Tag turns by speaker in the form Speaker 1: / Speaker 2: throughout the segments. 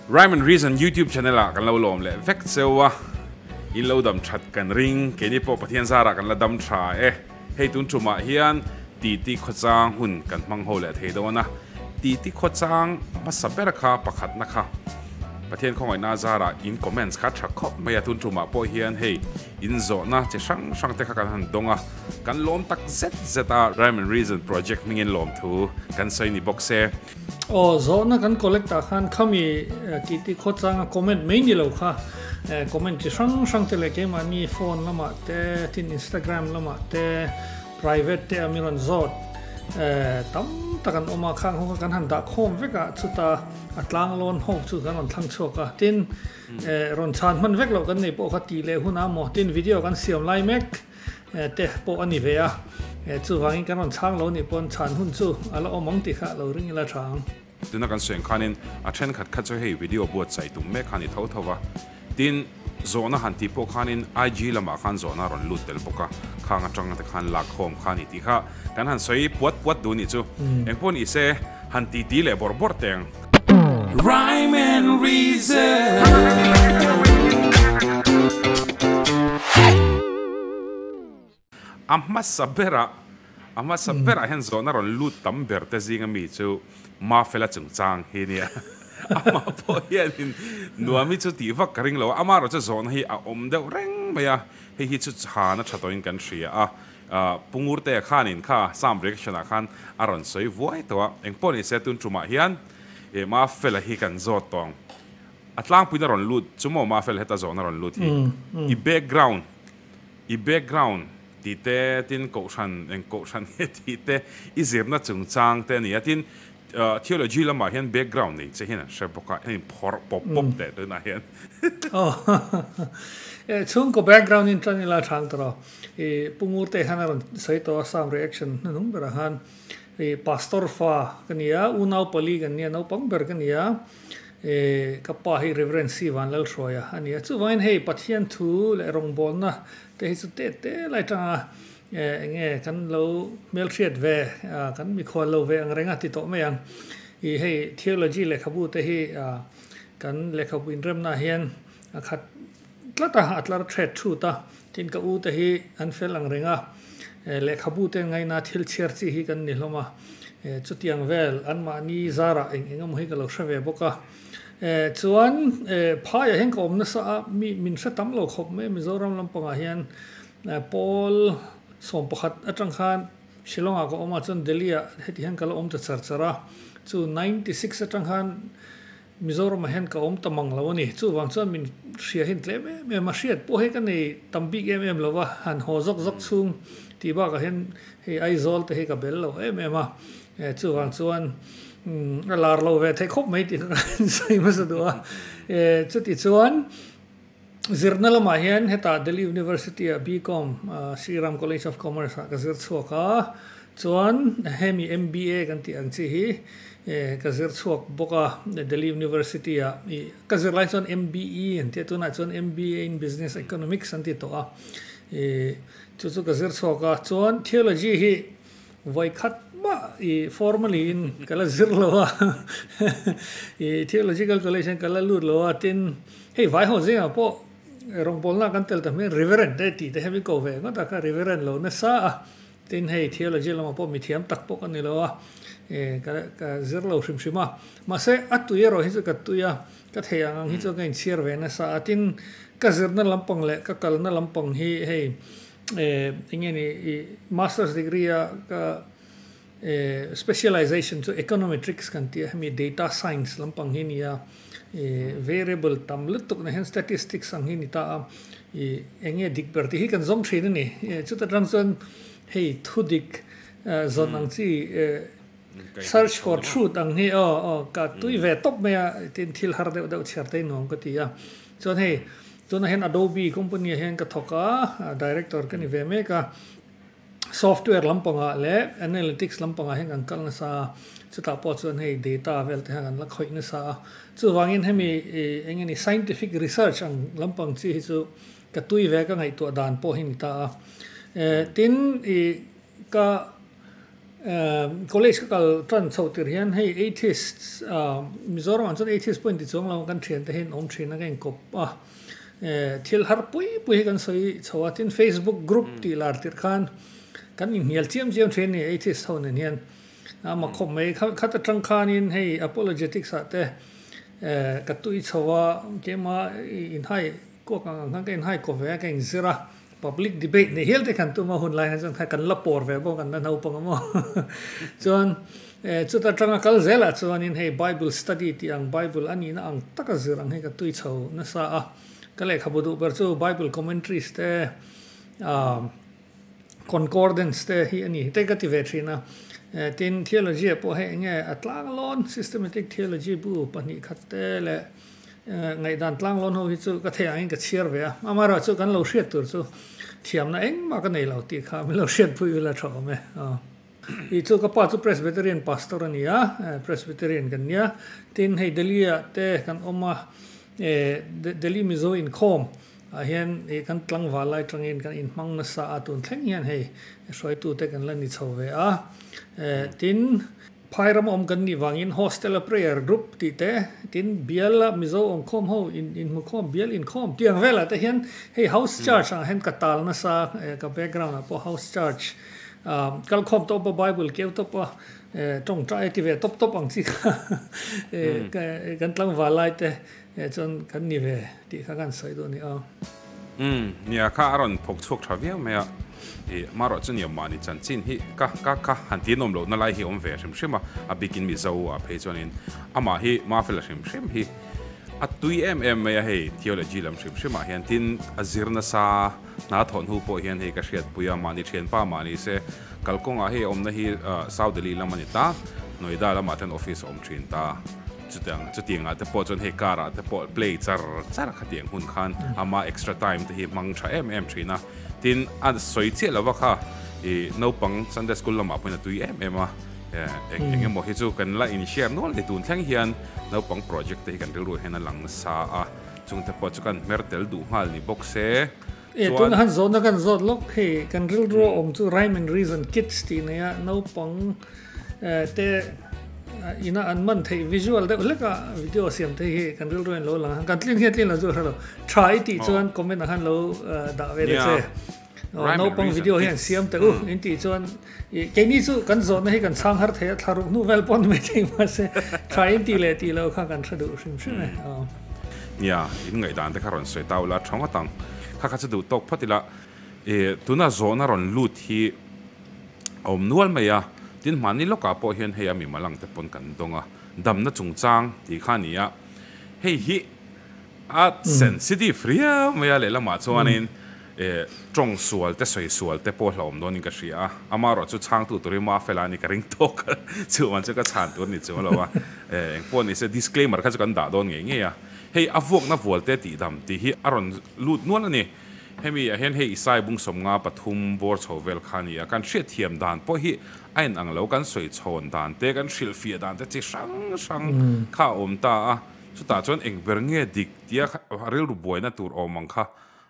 Speaker 1: Rhyme and Reason YouTube channel ah kan lo lawm leh vek cheu a, in lo dam that kan ring, keini pawh Pathian zar ah kan la dam tha e. Hei tun ṭum ah hian titi khawchang hun kan hmang ho leh thei dawn a, titi khawchang hmasa ber kha pakhatna kha Pathian khawngaihna a zar ah in comments kha tha khawp mai a, tun ṭum ah pawh hian hei in zawhna chi hrang hrang te kha kan han dawng a, kan lawm tak zet zet a Rhyme and Reason project hming in lawm thu kan sawi ni bawk se. Aw zawhna
Speaker 2: kan collect ah khan khami Kiti Khawchanga comment mai ni lo kha comment chi hrang hrang te leh keimahni phone lamah te tin Instagram lamah te private te a mi rawn zawt tam tak an awm a khang ho kha kan han dah khawm vek a chuta a tlang lawn ho chu kan rawn thlang chhuak a tin rawn chhan hman vek lo kan nei pawh kha ti leh hun a maw tin video kan siam lai mek. te pawh a ni ve a, chuvangin kan rawn chhang lo nih pawn chhan hun chu a la awm ang tih kha lo ring ila tha ang. Tuna kan sawi ang
Speaker 1: khanin a thenkhat kha chu hei video buatsaih tum mek kha a ni tho tho a, tin, zawhna han tih pawh khanin IG lamah khan zawhna a rawn lut tel bawk a, khang atanga te khan lakkhawm kha a ni tih kha Kan han sawi puat puat duh nih chu eng pawn i se han ti ti leh bawr bawr teng. Rhyme and reason. A hmasa bera a hmasa bera hian zawhna rawn lut tam ber te zinga mi chu Mafela chungchang hi nia amah pawh hian in Nuami chu tih vak ka ring lo a, amah erawh chu zawhna hi a awm deuh reng mai a, hei hi chu chhana tha tawhin kan hria a. Pungurtea khanin kha Psalm reaction ah khan a rawn sawi vuai tawh a, engpawh ni se tun tumah hian eh ma fela hi kan zawt tawng a tlangpuiin a rawn lut chu maw ma fela heta zawhna rawn lut hi i background i background tih te tin kohhran eng kohhran nge tih te i zirna chungchang te a ni a tin theology lamah hian background nei che hian an hre bawk a heng phawrh pawp pawp leh tunah hian. Aw
Speaker 2: eh chhungkaw background in tan ila than tawh lo. Ih Pungur te han a rawn sawi tawh a sam reaction hnu hnung berah han ih pastor fa ka ni a unau pali kan nia naupang ber ka ni a ih ka pa hi reverend Sivan Lalhruaia a ni a chuvangin hei Pathian thu leh rawngbawlna te hi chu teh teh lai tanga eh eng nge kan lo hmelhriat ve ah kan mikhual lo ve angreng a ti tawh mai ang ih hei theology lehkhabu te hi ah kan lehkhabu inremna ah hian a khat Tlatah a tlar ṭhet ṭhut a, tin ka u te hi an fel ang reng a, lehkhabu ten ngaina thil chhiar chi hi kan ni hlawm a, chutiang vel anmahni zarah eng eng emaw hi ka lo hre ve bawk a, chuan phaiah hian ka awm nasa a mi min hre tam lo khawp mai a Mizoram lampangah hian Pawl sawm pakhat aṭang khan Shillong-ah ka awm a chuan Delhi-ah heti hian ka lo awm ta char char a, chu ninety six aṭang khan Mizoram ah hian ka awm ta mang lo a ni. Chuvang chuan min hria hin tlem em em a. Hriat pawh hi ka nei tam bik em em lova, han haw zawk zawk chhung. Tih bakah hian hei Aizawl te hi ka bel lo em em a. Chuvang chuan a lar lo ve thei khawp mai tih ka insawi hmasa duh a. Chutichuan. Zirna lamah hian heta Delhi University-a BCom Sri Ram College of Commerce-ah ka zir chhuak a, chuan hemi MBA kan tih ang chi hi ka zir chhuak bawk a Delhi University-a. I ka zir lai chuan MBE an ti a, tunah chuan MBA in Business Economics an ti tawh a. I chu chu ka zir chhuak a, chuan Theology hi Vawi khat mah i formally in ka la zir lo a, i theological college in ka la lut lo a, tin hei vai ho zingah pawh rawngpawlna kan tel ta hmel in Reverend te tih te hian min ko ve ngawt a, kha Reverend lo nasa a, tin hei theology lamah pawh mi thiam tak bawk a ni lo a, ka zir lo hrim hrim a, mahse a tui erawh hi chu ka tui a, ka thei ang ang hi chu ka inchhiar ve nasa a, tin ka zirna lampang leh ka kalna lampang hi hei Eh enge ni i masters degree a ka eh specialization chu econometrics kan ti a hemi data science lampang hi nia eh variable tam lutuk na hian statistics ang hi ni ta a i enge dik ber tih hi kan zawm thin a ni chutah tang chuan hei thudik zawn ang chi eh. Search for truth ang hi aw aw ka tui ve tawp mai a tin thil har deuh deuh chhiar daih nuam ka ti a chuan hei tunah hian Adobe company ah hian ka thawk a director ka ni ve mek a software lampangah leh analytics lampangah hian kan kal nasa a chutah pawh chuan hei data vel te hian kan la khawih nasa a chuvangin hemi eng nge ni scientific research ang lampang chi hi chu ka tui ve a ka ngaihtuah dan pawh hi ni ta a tin i Ka college ka kal tan chhoh tir hian hei atheists a Mizoramah chuan atheist pawh a inti chuang lo a kan thian te hian awm thin a ka inkawp a thil har pui pui hi kan sawi chho a tin Facebook group tih lar tir khan kan inhnial chiam chiam thin a ni atheist ho nen hian a ma khawp mai kha khat atang khanin hei apologetics ah te ka tui chho a kema inhai Court ah nang ka inhai ko ve a, ka inzir a, public debate ni hial te kan tum a, hun lai ah chuan kan la pawr ve bawk an la naupang a maw chuan chuta tanga kal zel ah chuanin hei bible study tih ang bible a nihna ang taka zir ang hi ka tui chho nasa a, ka lehkhabu duh ber chu bible commentaries te umm concordance te hi a ni hi te ka ti ve thin a, tin theology ah pawh hei eng nge a tlang a lawn systematic theology bu pahnih khat te leh. Ngaihdan tlang lawn ho hi chu ka thei angin ka chhiar ve a, amaherawhchu chu kan lo hriat tur chu thiamna engmah ka nei lo tih kha min lo hriat pui ila tha awm e. Ih chu ka pa chu Presbyterian pastor a ni a, Presbyterian kan nia, tin hei Delhi-ah te kan awm a, Delhi Mizo inkhawm ah hian ih kan tlangval lai tangin kan in hmang nasa a tun thleng hian hei hruaitute kan la ni chho ve a, tin. Phairam awm kan nih vangin Hostel a Prayer Group tih te, tin biala Mizo awmkhawm ho in inhmukhawm bial inkhawm tiang velah te hian hei House Church ah hian ka tal nasa eh ka background ah pawh House Church ah kal khawm tawp a Bible keu tawp a eh tawngtai a ti ve tawp tawp ang chi kha eh kan tlangvalai te Hei chuan kan ni ve tih kha kan sawi duh a ni aw. Umm,
Speaker 1: nia kha a rawn phawk chhuak tha viau mai a, ih, mah ruah chuan i awm mahni chan chin hi ka ka kha han ti nawm lohna lai hi a awm ve hrim hrim a, a bikin Mizo a phei chuanin amah hi mafe la hrim hrim hi a tui em em mai a, hei Theology lam hrim hrimah hian tin a zir nasa Hna thawh hnu pawh hian hei ka hriatpui a, mahni thianpa mah ni se. Kalkawngah hei a awmna hi South Delhi lam a ni ta, Noida lamah chuan office a awm thin ta. Chutiang, chutiangah te pawh chuan hei car ah te pawh play char char kha tih ang hun khan ama extra time te hi hmang tha em em thin a. Tin, a sawi chiah lova kha i naupang Sunday school lamah pawhin a tui em em a. Eng eng emaw hi chu kan la inhriat nual ni tun thleng hian naupang project te hi kan rilru ah hian a lang sa a. Chung te pawh chu kan hmer tel duh nghal ni bawk se chuan. E tun han zawhna
Speaker 2: kan zawt lawk hei kan rilru a awm chu rhyme and reason kids tih nei a naupang te ina an man theih visual deuh hlek a video siam te hi kan rilru in lo lang a kan tlin hi a tlin lo chu hrelo tha i tih chuan comment ah han lo dah ve le che. Naupang video hi an siam teh u in tih chuan keini chu kan zawhna hi kan chhang har thei a thla ruk hnu vel pawh a ni mai thei mahse try in ti leh ti lo kha kan hre duh hrim hrim e. Nia,
Speaker 1: in ngaihdan te kha rawn sawi ta ula tha ngawt ang, kha kha chu duh tawk phawt ila e, tuna zawhna rawn lut hi a awm nual mai a, tin mahni lawkah pawh hian hei a mimalang te pawn kan dawng a, damna chungchang tih kha a ni a, hei hi A sensitive riau mai a, lehlamah chuanin e tawng sual te sawi sual te pawh hlauhawm dawnin ka hria a, amarawh chu chhangtu tur hi Mafel a ni ka ring tawk a, chuvang chu ka chhan tur ni chu a lo a, e engpawh ni se disclaimer kha chu kan dah dawn ngei ngei a, hei a vuakna vualte tihdam tih hi a rawn lut nual a ni, hemi ah hian hei Isai Bungsawmnga pathum bawr chho vel kha nia kan hriatthiam dan pawh hi a in ang lo, kan sawi chhawn dan te kan hrilhfiah dan te chi hrang hrang kha a awm ta a, Chutah chuan eng ber nge dik tia kha rilru buaina tur awm ang kha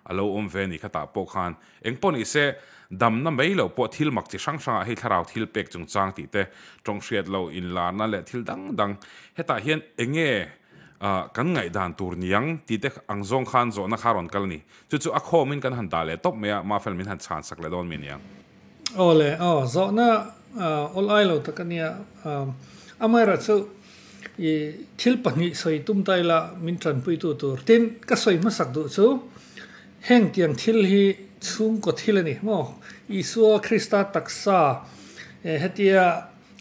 Speaker 1: a lo awm ve a ni kha tah pawh khan engpawh ni se damna mai lo pawh thil mak chi hrang hrangah hei thlarau thil pek chung chang tih te, tawng hriat lo inlarna leh thil dang dang hetah hian enge kan ngaihdan tur ni ang tite ang zawng khan zawhna kha a rawn kal a ni. Chu chu a khawmin kan han dah leh tawp mai a mahfel min han chhansak leh dawn mai a ni ang. Aw le
Speaker 2: aw, zawhna awl ai lo tak a nia. Amaherawh chu i thil pahnih sawi tum ta ila min tanpuitu tur. Tin, ka sawi hmasak duh chu heng tiang thil hi chhungkaw thil a ni maw? Isua Krista taksa hetia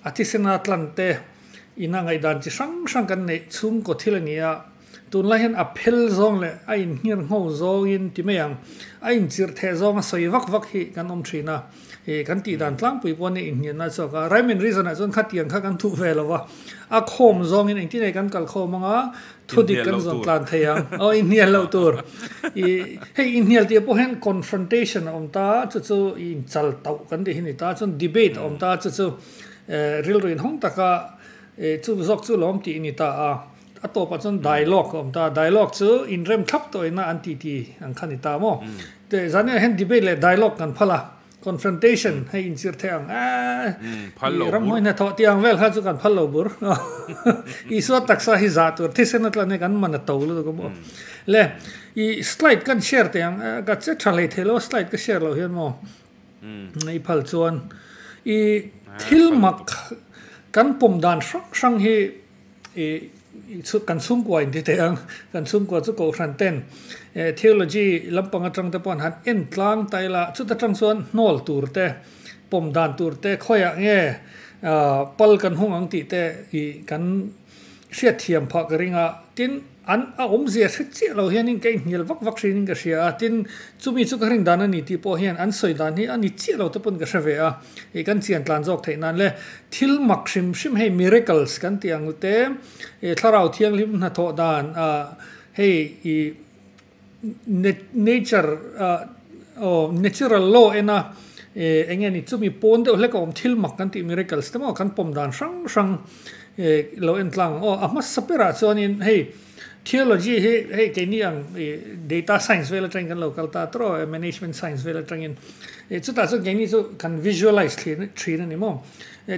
Speaker 2: a thisena tlante ina ngaihdan chi hrang hrang kan neih chhungkaw thil a ni a. Tunlai hian a phel zawng leh a inhngir ngho zawngin ti mai ang, a inchirh theh zawng a sawi vak vak hi kan awm thin a, ih kan tih dan tlangpui pawh a ni inhngir na chhuak a, rhyme and reason ah chuan khatiang kha kan hmuh ve lo va, a khawm zawngin engtinge kan kal khawm anga thudik kan zawn tlan thei ang, aw inhnial loh tur, ih hei inhnial tih ah pawh hian confrontation a awm ta chu chu ih inchal tauh kan tih hi a ni ta chuan debate a awm ta chu chu eh rilru inhawng taka eh chu zawk chu lawm tih a ni ta a. A tawpah chuan dialogue a awm ta a, dialogue chu inrem thlap tawhina an titi ang kha ni ta maw. Tih zaniah hian debate leh dialogue kan phal a, confrontation hei inchir theih ang aah
Speaker 1: i ramhawi nge thaw tih ang vel
Speaker 2: kha chu kan phal lo bur. Isua taksa hi zah tur thisen atlan hi kan man a to lutuk a maw. Le i slide kan share teh ang aah ka che tha hlei thei lo a slide ka share loh hian maw. I phal chuan i thil mak kan pawm dan hrang hrang hi. kan chhungkua in ti theih ang, kan chhungkua chu Kohhran ten theology lampang atang te pawh han en tlang ta ila chuta tang chuan hnawl tur te pawm dan tur te khawiah nge pal kan hung ang tih te ih kan hriat thiam phah ka ring a tin. An a awmzia hre chiah lo hianin ka inhnial vak vak hriain in ka hria a, tin, chumi chu ka hrin dan a ni tih pawh hian an sawi dan hi a ni chiah lo te pawn ka hre ve a, ih kan chian tlan zawk theih nan le thil mak hrim hrim hei miracles kan tih ang te, ih Thlarau Thianghlim hnathawh dan ah hei ih. Nature aw natural law ena enge ni chumi pawn deuh hlek a awm thil mak kan tih miracles te maw kan pawm dan hrang hrang lo en tlang ang aw a hmasa ber ah chuan in hei theology hi hei keini ang data science vel atang in kan lo kal ta tur aw management science vel atang in chutah chuan keini chu kan visualize thin a ni maw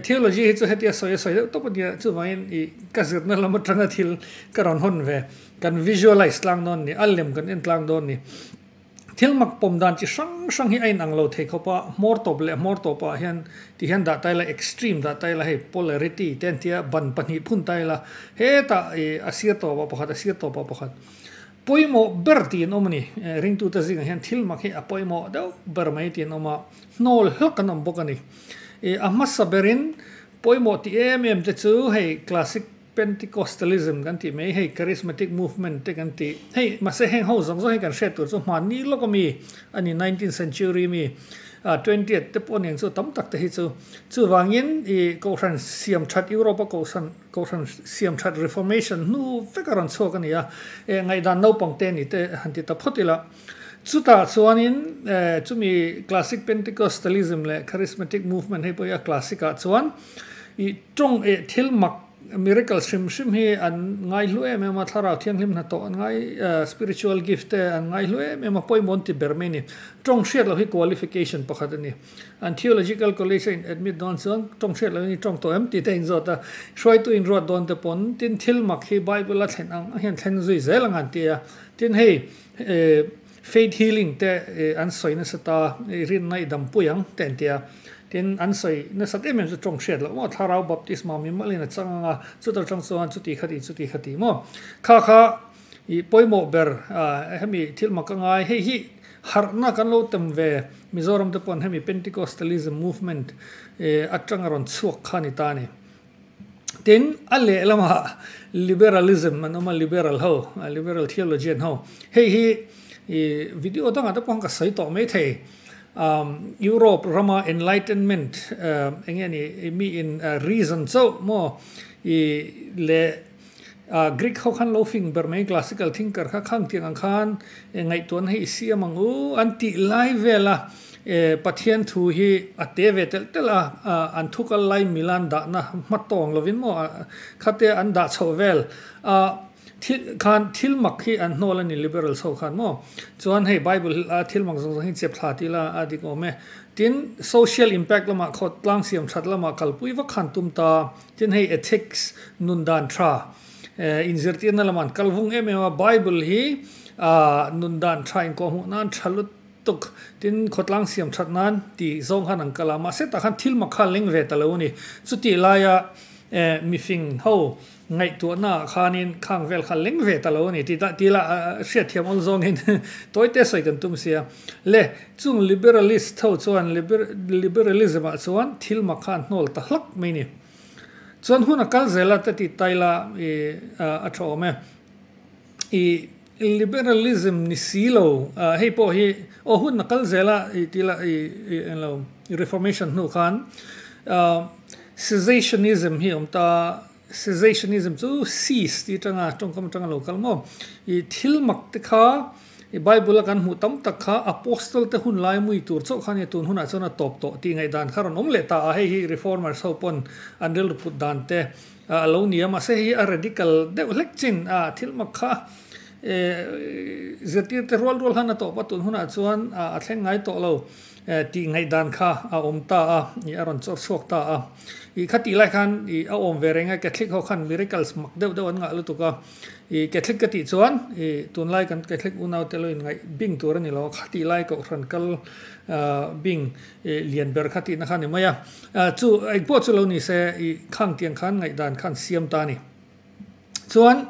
Speaker 2: theology hi chu hetia sawi a sawi deuh tawp a nia chuvangin i ka zirna lam atanga thil ka rawn hawn ve. Kan visualize tlang dawn ni, a lem kan en tlang dawn ni. Thil mak pawm dan chi hrang hrang hi a inang lo thei khawp a, hmawr tawp leh hmawr tawp ah hian tih hian dah ta ila, extreme dah ta ila, hei polarity te an tia ban pahnih phun ta ila, hetah a sir tawp ah pakhat a sir tawp ah pakhat pawimawh ber tiin awm a ni. Ringtute zingah hian thil mak hi a pawimawh deuh ber mai tiin awm a, hnawl hlak an awm bawk a ni. A hmasa berin pawimawh ti em em te chu hei classic. Pentecostalism kan tih mai, hei Charismatic Movement te kan tih, hei mahse heng ho zawk zawk hi kan hriat tur chu hmaan ni lawk ami a ni, Nineteenth Century mi, a Twentieth te pawh nen chu tam tak te hi chu. Chuvangin i Kohhran siam that Europe a Kohhran Kohhran siam that Reformation hnu vek a rawn chhuak a ni a, e ngaihdan naupang te ni te han ti ta phawt ila. Chutah chuanin chumi Classic Pentecostalism leh Charismatic Movement hei pawhin a Classic ah chuan i tawng eh thil mak miracles hrim hrim hi an ngaihlu em em a, thlarau thianghlim hnathawh an ngai spiritual gift te an ngaihlu em em a, pawimawh an ti ber mai a ni. Tawng hriat loh hi qualification pakhat a ni. An theological college a in admit dawn chuan tawng hriat lohin i tawng tawh em tih te a in zawt a, hruaitu in ruat dawn te pawn tin thil mak hi bible a thlen ang hian thlen zui zel anga an ti a, tin hei Faith healing te an sawi nasat a, i rinna i dampuia ang te an ti a. Tin, an sawi nasat em em chu tawng hriat loh maw? Thlarau Baptisma mi mawlhin a chang anga chuta tang chuan chuti kha tih chuti kha tih maw? Kha kha ih pawimawh ber hemi thil mak angai hei hi harhna kan lo tem ve Mizoram te pawh hemi Penticostalism movement atanga rawn chhuak kha a ni ta a ni. Tin, a lehlamah liberalism an awm a, liberal ho, liberal theology an ho. Hei hi video dangah te pawh khan ka sawi tawh mai thei. Europe rama enlightenment enge a nih, miin reason chauh maw, leh, A Greek ho khan lo fing ber mai classical thinker kha khang tiang ang khan e ngaihtuahna hi i siam ang u an tih lai vel a e Pathian thu hi a te ve telh telh a a an thu kal lai milan dahna hma tawng lovin maw a khate an dah chhoh vel a thil khan thil mak hi an hnawl a ni liberals ho khan maw chuan hei bible hi a thil mak zawng zawng hi chep thla ti la a dik awm e tin social impact lamah khaw tlang siam that lamah kalpui vak khan tum ta. Tin, hei ethics nun dan tha in zirtirna lamah an kal vung em em a, Bible hi nun dan tha in kawh hmuh nan tha lutuk. Tin, khawtlang siam that nan tih zawng khan an kal a, mahse tah khan thil mak kha leng ve ta lo a ni. Chutih laia mifing ho ngaihtuahna ah khanin khang vel kha leng ve ta lo a ni tih dah tih ila hriatthiam awl zawngin tawite sawi kan tum sia. Le, chung liberalist tho chuan liberalism ah chuan thil mak kha an hnawl ta hlak mai ni. Chuan hun a kal zel a ta ti ta ila a tha awm e. I liberalism ni si lo hei pawh hi aw hun a kal zel a ti ila i en lo reformation hnu khan cessationism hi awm ta a. Cessationism chu cease tih atanga tawngkam atanga lo kal maw? I thil mak te kha i Bible a kan hmuh tam tak kha Apostle te hun lai mui tur chauh khan nge tun hunah chuan a tawp tawh tih ngaih dan kha rawn awm leh ta a, hei hi Reformers ho pawn an rilru put dan te a lo ni a, mahse hei hi a radical deuh hlek chin a, thil mak kha zirtirte rual rual han a tawp a tun hunah chuan a thleng ngai tawh lo. Tih ngaih dan kha a awm ta a, ih a rawn chawr chhuak ta a. Ih khati lai khan ih a awm ve reng a, Catholic ho khan miracles mak deuh deuh an ngah lutuk a. Ih Catholic ka tih chuan ih tunlai kan Catholic unaute lo inngaih bing tur a ni lo a, khati lai kohhran kal bing ih lian ber kha tihna kha a ni mai a. Chu engpawh chu lo ni se ih khang tiang khan ngaih dan khan siam ta a ni. Chuan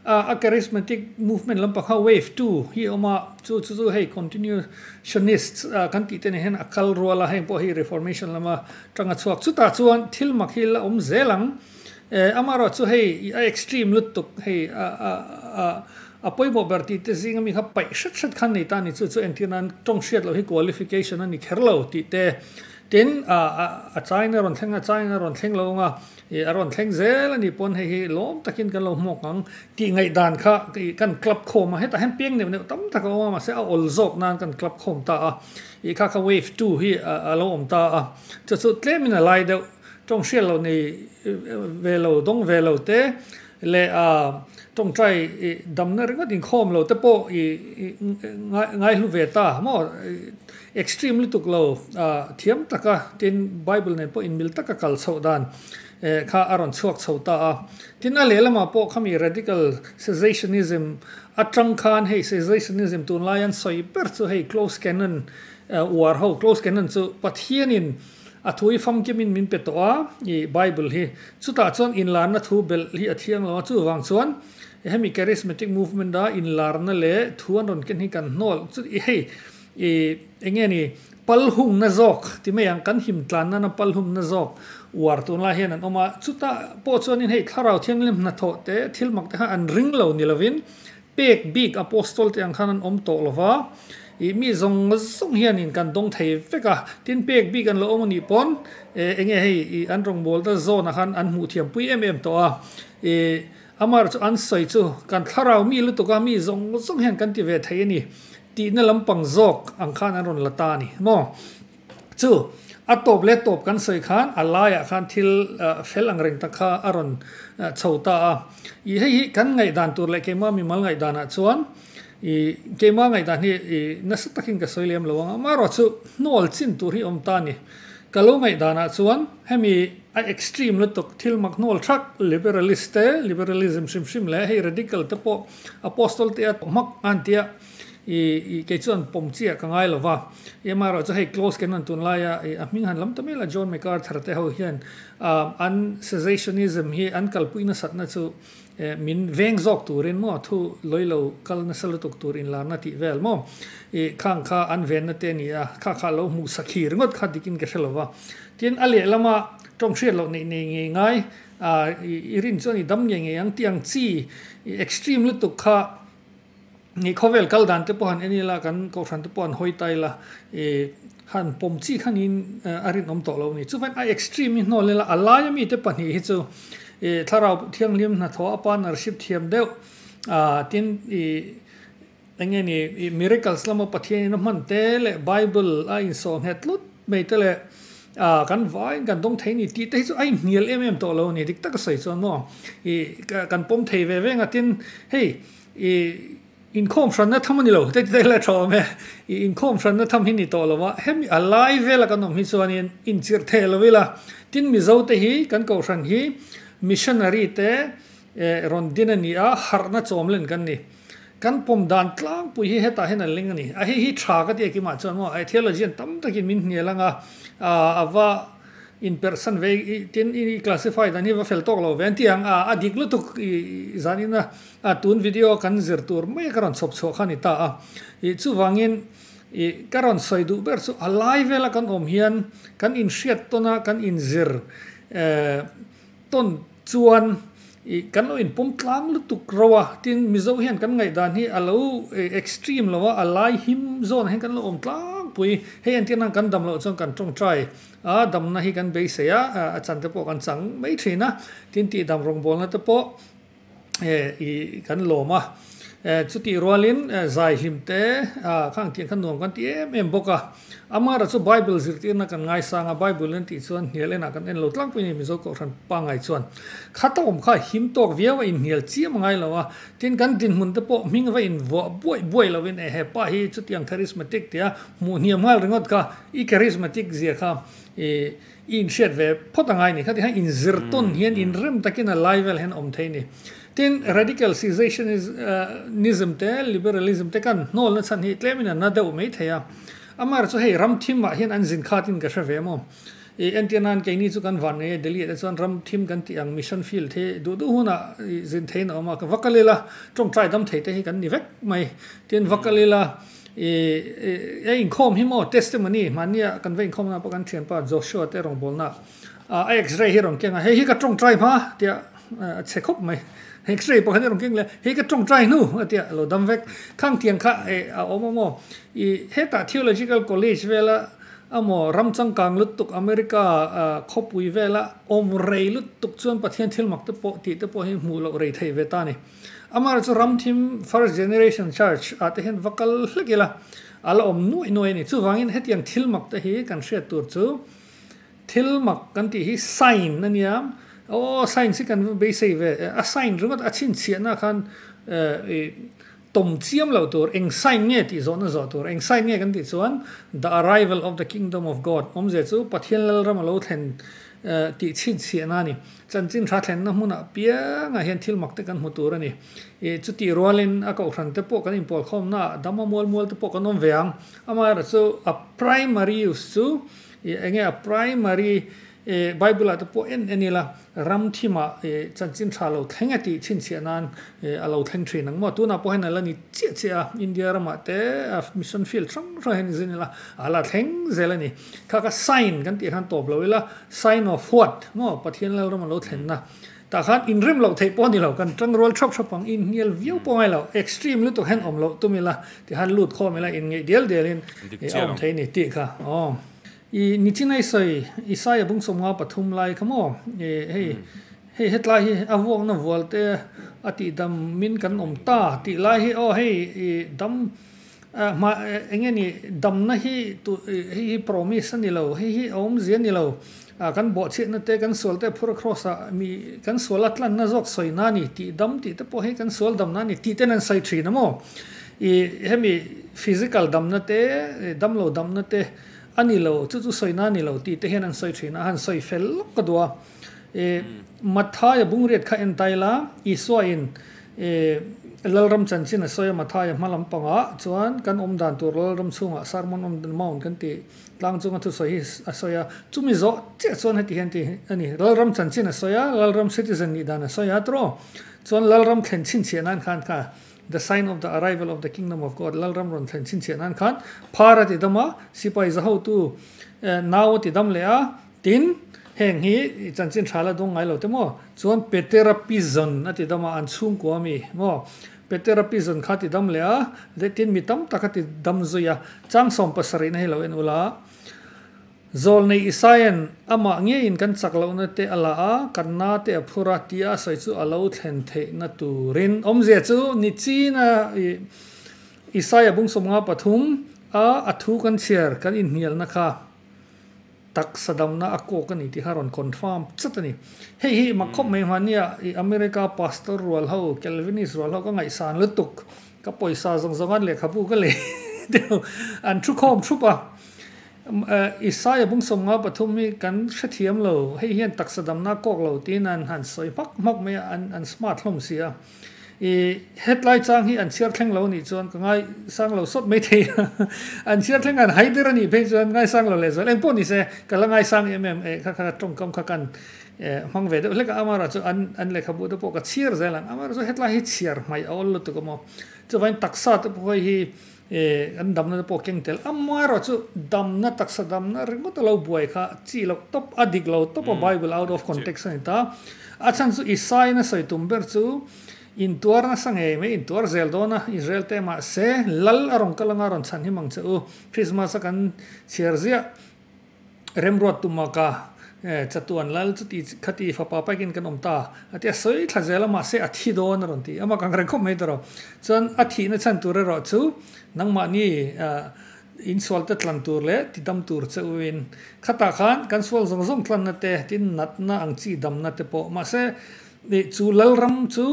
Speaker 2: a charismatic movement lampang kha wave two hi a awm a, chu chu chu hei continuationists kan tih te neh hian a kal rual a, heng pawh hi reformation lama tanga chhuak. Chutah chuan thil mak hi la awm zel ang, eh amaherawhchu chu hei a extreme lutuk hei a pawimawh ber tih te zinga mi kha paih hret hret khan a nei ta a ni, chu chu entir nan tawng hriat loh hi qualification a ni kher lo tih te. Tin a chaiin a rawn thleng a, a chaiin a rawn thleng lo ang a. I a rawn thleng zel a nih paw'n hei hi lawm takin kan lo hmuak ang. Tih ngaih dan kha i kan clap khawm a, hetah hian piang neuh neuh tam tak a awm a, mahse a awl zawk nan kan clap khawm ta a. I kha kha wave two hi a lo awm ta a, chu chu tlemin a lai deuh, tawng hrial lo nei ve lo, dawng ve lo te leh a tawngtai damna ringawt inkhawm lo te pawh i ngai hlu ve ta maw? Extreme lutuk lo thiam taka tin Bible nen pawh inmil taka kal chhoh dan kha a rawn chhuak chho ta a. Tin a lehlamah pawh khami radical cessationism atang khan hei cessationism tunlai an sawi ber chu hei closed canon uar ho, closed canon chu Pathianin A thu hi famkim in min pe tawh a, i Bible hi. Chutah chuan inlarna thu belh hi a thiang lo a, chuvang chuan hemi Charismatic Movement a inlarna leh thu an rawn ken hi kan hnawl. Chu i hei i eng nge ni pal hungna zawk ti mai ang kan him tlan nana pal humna zawk uar tun lai hian an awm a. Chutah pawh chuan in hei thlarau thianghlim hnathawh te thil mak te kha an ring lo ni lovin Pek bik Apostol te ang khan an awm tawh lova, ih mi zawng zawng hianin kan dawng thei vek a, tin pek bik an lo awm anih pawn eh enge hei ih an rawngbawlna zawnah khan an hmuh thiam pui em em tawh a, ih Amar chu an sawi chu kan thlarau mi lutuk a, mi zawng zawng hian kan ti ve thei a ni tihna lampang zawk ang khan an rawn la ta a ni maw. Chu a tawp leh tawp kan sawi khan a laiah khan thil fel ang reng tak kha a rawn chho ta a. I hei hi kan ngaihdan tur leh keimah mi mal ngaihdanah chuan i keimah ngaihdan hi i nasa takin ka sawi lem lo ang a, amaherawh chu hnual chin tur hi a awm ta a ni. Ka lo ngaihdanah chuan hemi a extreme lutuk thil mak hnual thak liberalist te, liberalism hrim hrim leh hei radical te pawh Apostle te a hmak a ni tih a. I i kei chuan pawm chiah ka ngai lova. I mah erawh chu hei close kan rawn tun laia i a hming han lam ta mela John MacArthur te ho hian um an cessationism hi an kalpui nasat na chu eh min veng zawk turin maw thu lawi lo kal nasa lutuk tur in lar na tih vel maw i khang kha an ven na te a ni a kha kha lo hmuh sakhi ringawt kha dik in ka hre lova. Tin a leh lama tawng hriat loh neih nei ngei ngai ah i i rin chuan i dam ngei ngei ang tiang chi i extreme lutuk kha Ih khawvel kal dan te pawh han en ila, kan kohhran te pawh han hawi ta ila, ih han pawm chi khan in a rinawm tawh lo a ni. Chufain a extreme hi hnawl ila, a laia mite pahnih hi chu ih Thlarau Thianghlim hnathawh a pan a rhip thiam deuh, ah tin ih enge ni ih miracles lama Pathian in a hman te leh Bible a insawh nghet lut mai te leh Ah kan vaiin kan dawng thei ni tih te hi chu a inhnial em em tawh lo ni dik tak a sawi chuan maw i kan pawm thei ve ve nga tin hei i inkhawm hran na tham a ni lo te te la tha awm e i inkhawm hran na tham hi ni tawh lo va hemi a lai vel a kan awm hi chuan in inchirh theh lo ila tin mizo te hi kan kohhran hi missionary te eh rawn din a ni a harh na chawm len kan ni. Kan pawm dan tlangpui hi hetah hian a leng a ni. A hi hi tha ka ti a kimah chuan maw, theologian tam takin min hnial anga a va inperhsan ve tin i classify dan hi va fel tawk lo ve an ti ang. A a dik lutuk i zan ina tun video kan zir tur mai ka rawn chhawp chhuah kha a ni ta a. I chuvangin i ka rawn sawi duh ber chu a lai vela kan awm hian kan inhriat tawn a kan inzir Tawn chuan ih kan lo inpawm tlang lutuk ro a tin Mizo hian kan ngaihdan hi a lo eh extreme lo a a lai him zawnah hian kan lo awm tlangpui hei an tihna ang kan dam loh chuan kan tawngtai a damna hi kan beisei a a chante pawh kan chang mai thin a tin tih dam rawngbawlna te pawh-- kan lawm a chutih rualin zaihlim te kha ang tih kha nuam kan ti em em bawk a amar ah chu bible zirtir na kan ngaisang a bible en tih chuan hnial en ah kan en lo tlak pawhin mizo kohhran pangai chuan kha ta awm kha him tawk viau a inhnial chiam a ngailo a tin kan dinhmun te pawh hming va invuah buai buai lo in ehe pa hi chutiang charismatic tia hmuh hniam nghal ringawt kha i charismatic zia kha ih-- I inhriat ve phawt angai ni, khatiang hian inzir tawn hian inrem takin a lai vel hian awm thei ni. Tin, radical cessationism te liberalism te kan hnawl nachhan hi tlemin a na deuh mai thei a. Amaherawh chu hei ram thim ah hian an zin khat in ka hre ve maw? I entir nan keini chu kan vannei a, Delhi ah te chuan ram thim kan tih ang mission field hi duh duh hunah i zin theihin a awm a, ka va ka lil a, tawngtai dam thei te hi kan ni vek mai. Tin, va ka lil a. I i inkhawm hi maw testimony mahnia kan va inkhawm nan pawh kan thianpa Joshua te rawngbawlna ah a x-ray hi rawn keng a hei hi ka tawngtai hma tia a chhe khawp mai x-ray pakhat hi rawn keng leh hei ka tawngtai hnu a tia lo dam vek khang tiang kha a awm a maw i hetah theological college vela a maw ram changkang lutuk America khawpui vela awm rei lutuk chuan Pathian thil mak te pawh tih te pawh hi hmuh loh rei thei ve ta ni. Amar chu ramthim First Generation Church ah te hian va kal hlek ila, a la awm nuai nuai a ni. Chuvangin hetiang thil mak te hi kan hriat tur chu thil mak kan tih hi sign a nia. Aw signs hi kan va beisei ve e. A sign ringawt a chhinchhiahna khan i tawm chiam loh tur, eng sign nge tih zawhna zawh tur. Eng sign nge kan tih chuan The Arrival of the Kingdom of God awmze chu Pathian Lalram a lo thlen tih chhinchhiahna a ni. Chanchin hra thlenna hmun apiangah hian thil mak te kan hmu tur a ni. Ih chutih rualin a kohhran te pawh kan inpawl khawmnaah dam a mual mual te pawh kan awm ve ang. Amaherawhchu chu a primary use chu ih enge a primary ih Bible-ah te pawh en en ila ram thimah ih chanchin hra lo thleng e tih chhinchhiah nan ih a lo thleng thin ang maw? Tunah pawh hian a la ni chiah chiah a. India ramah te a mission field hrang hrangah hian zin ila a la thleng zel a ni. Kha kha sign kan tih khan tawp lo ila, sign of what? Maw Pathian Lalraman lo thlenna tah khan inrem loh theih pawh a ni lo, kan tangrual hrap hrap ang, inhnial viau pawh ngai lo, extreme lutuk hian awm loh tum ila, tih khan lut khawm ila inngeih dial dial in a awm thei a ni tih kha aww. I Nichinai sawi, Isaiah bung sawmnga pathum lai kha maw? I hei hei hetlai hi a vuakna vualte a tihdam min kan awm ta tih lai hi aw hei i dam A hma eng nge ni, damna hi hei hi promise a ni lo, hei hi a awmzia a ni lo. A kan bawhchhiatna te, kan sual te phura kraws ah mi kan sual a tlanna zawk sawina a ni tih dam tih te pawh hei kan sual damna a ni tih ten an sawi thin a maw i hemi physical damna te dam lo damna te a ni lo chu chu sawina a ni lo tih te hian an sawi thin a, a han sawi fel lawk ka duh a. E. Matthaya bungriat kha en ta ila, Isuain e Lalram chanchin a sawi a, Matthaya hma lampangah chuan kan awm dan tur Lalram chhungah Sermon on the Mount kan tih tlang chunga thusawi hi a sawi a. Chumi zawh chiah chuan heti hian ti a ni, Lalram chanchin a sawi a, Lalram citizen nih dan a sawi a, tiraw? Chuan Lalram thlen chhinchhiah nan khan kha, The Sign of the Arrival of the Kingdom of God, Lalram rawn thlen chhinchhiah nan khan, Phara tidam a, Sipai zahotu, Nau tidam leh a, Tin, heng hi i chanchin tha la dawng ngai lo te maw? Chuan Peterapizon a ti dam a, an chhungkua mi maw? Peterapizon kha a ti dam leh a, leh tin mi tam tak a ti dam zui a, changsawm pasarihna hi lo en ula. Zawl nei Isaia'n amah ngeiin kan chak lohna te a la a, kan na te a phur a tia a sawi chu a lo thlen theihna turin awmzia chu ni china Isaiah bungsawmnga pathum a a thu kan chhiar kan inhnialna kha. Taksa damna a kawk a ni tih kha rawn confirm chut a ni. Hei hi mak khawp mai hmani a, i America pastor rual ho, Calvinist rual ho ka ngaihsan lutuk. Ka pawisa zawng zawng an lehkhabu ka leh deuh an thu khawm thup a. Isaiah bung sawm nga pathum hi kan hrethiam lo, hei hian taksa damna a kawk lo tiin an han sawi hmak hmak mai a, an smart hlawm si a. I hetlai chang hi an chhiar thleng lo nih chuan ka ngai sang lo sawt mai thei a, an chhiar thlenga an hai der anih phei chuan ngai sang lo leh zual eng pawh nise ka la ngai sang em em e kha kha tawngkam kha kan hmang ve deuh hlek a, amaherawh chu an an lehkhabu te pawh ka chhiar zel ang, amaherawh chu hetlai hi chhiar hmai a awl lutuk a maw, chuvain taksa te pawh hawih hi. E, kan damna te pawh keng tel am a erawh chu damna taksa damna ringawt a lo buai kha chi loh tawp a dik lo tawp a Bible out of context a ni ta. A chhan chu Isai na sawi tum ber chu intuar nasa ngei mai intuar zel dawn a Israel te mah se lal a rawn kal anga rawn chhan hi mang che u Christmas a kan chhiar ziah Remruat tuma ka chatuan lal chuti khati fapa paikin kan awm ta a ti a sawi thla zel a mahse a thi dawn a rawn ti amah kan reng khawp mai ta rawh chuan a thihna chhan tur erawh chu nangmahni insual te tlan tur leh ti dam tur che uin khatah khan kan sual zawng zawng tlanna te tin natna ang chi damna te pawh mahse chu lalram chu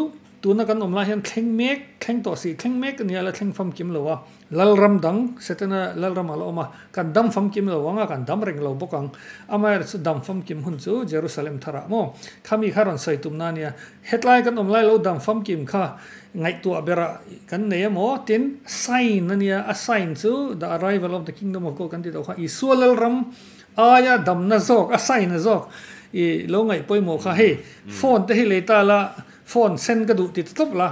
Speaker 2: Tuna kan awm lai hian thleng mek, thleng tawh si, thleng mek a ni a, la thleng famkim lo a. Lalram dang Setena Lalram a la awm a, kan dam famkim lo ang a, kan dam reng lo bawk ang. Amaherawhchu chu dam famkim hun chu Jerusalem tharah maw? Kha mi kha rawn sawi tum na a nia. Hetlai kan awm lai lo dam famkim kha ngaihtuah berah kan nei a maw? Tin, sign a nia, a sign chu The Arrival of the Kingdom of God kan tih loh kha Isua Lalram aia damna zawk, a sign a zawk i lo ngaih pawimawh kha hei phone te hi lei ta la, Phone sen ka duh ti ta tawp la,